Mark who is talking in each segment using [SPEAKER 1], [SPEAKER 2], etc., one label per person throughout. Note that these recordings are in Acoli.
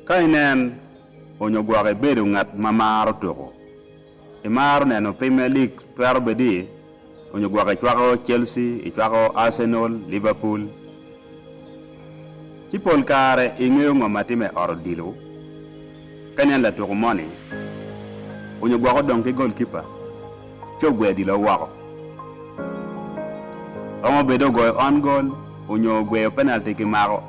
[SPEAKER 1] Ka inen onyo gwok ibedo ngat ma maro tuku, imaro neno Premier League twero bedi onyo gwok icwako Chelsea, icwako Arsenal, Liverpool. Ci pol kare ingeyo ngo ma time ot odilo. Ka inen latuku moni onyo gwok odong ki goal keeper ci ogweyo odilo woko. Romo bedo ogoyo on goal onyo ogweyo penalty kimako.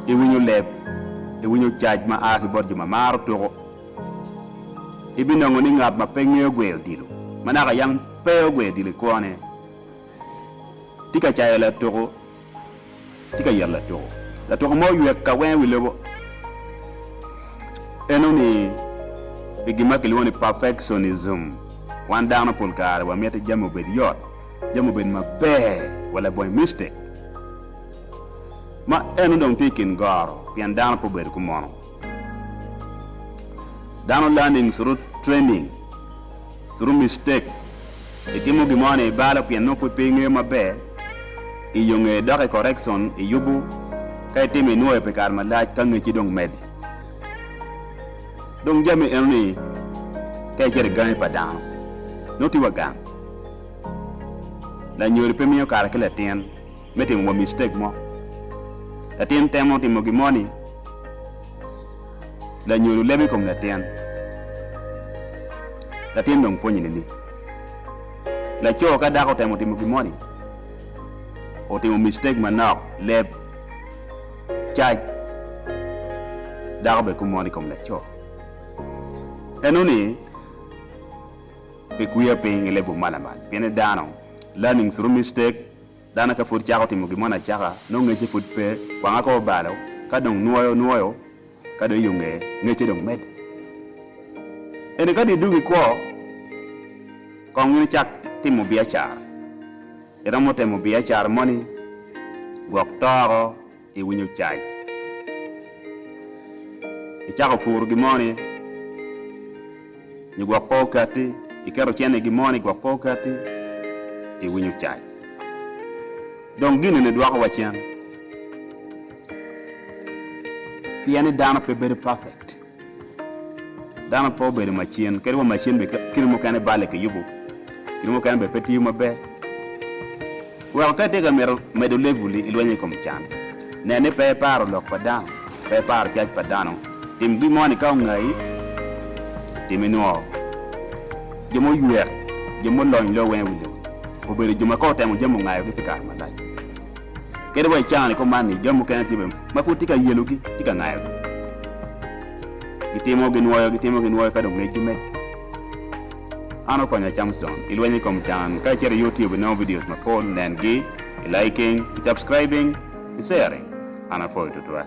[SPEAKER 1] iwinyo leb, iwinyo cac ma a ki bot jo ma maro tuko, ibinongo ni ngat ma pe ngeyo gweyo odilo, ma naka yam pe ogweyo odilo i kwone, tye ka cayo latuko, tye ka yero latuko. Latuko mo oywek ka wenge wi lobo, en oni i gin ma kilwongo ni perfectionism. Wan dano pol kare wamito jami obed yot. jami obed maber wa labonge miste ma en odong tye i kin goro pien dano pe obedo kumono. Dano learning through training, through mistake. Itimo gin mo ni ibalo pien nongo pud pe ingeyo maber, iyo nge dok i correction iyubu ka itimo inwoyo pi kare malac ka ngecci dong medi. Dong jami eno ni ka icito i gangi pa dano nongo tye wa gang. Lanyodo pe miyo kare ki latin me timo wa mistake mo. Latin temo timo gin mo ni lanyodo lebo i kom latin. Latin dong pwonye ni ni. Laco ka dako otemo timo gin mo ni otimo mistake manok leb cac dako bene kumo ni i kom laco. Enoni. Pe kwiya piny i lebu malamal, pien i dano, learning through mistake, dano ka pud cako timo gin mo nacaka, nongo ngecce pud pe, kwanga ka obalo, ka dong nwoyo, nwoyo, ka dong iyo ngeye, ngecce dong medde. Ento ka dong idwogo i kwo, kong in icak timo biacara, iromo temo biacara moni, gwok toko, iwinyo cac. Icako puro gin moni nyo gwok pe okatti, iketo cente i gin moni gwok pe okatti, iwinyo cac. Dong gin eni dwoko wacen pien ni dano pe bedo perfect. Dano pe obedo macin, kadi wa macin bene kine mukene balle kiyubo, kine mukene bene pe tiyo maber. Weko ka itika mito medo level-li i lweny i kom can, nen ni pe iparo lok pa dano, pe iparo cac pa dano. Tim gin moni ka ongayi, tim inwo jo muywek, jo mulony lok weng i wi lobo obedo jo ma ka otemo jami ongayogi pi kare malac. Kadi wa i cawa ni kuman ni jo mukene tye bene ma pud tye ka yelogi, tye ka ngayogi. Gitimo, ginwoyo, gitimo, ginwoyo ka dong ngecgi medo. An okonya Camson i lweny i kom can. Ka icito i YouTube inongo videos mapol, nengi, i liking, i subscribing, i sharing. An apwoyi tutwal.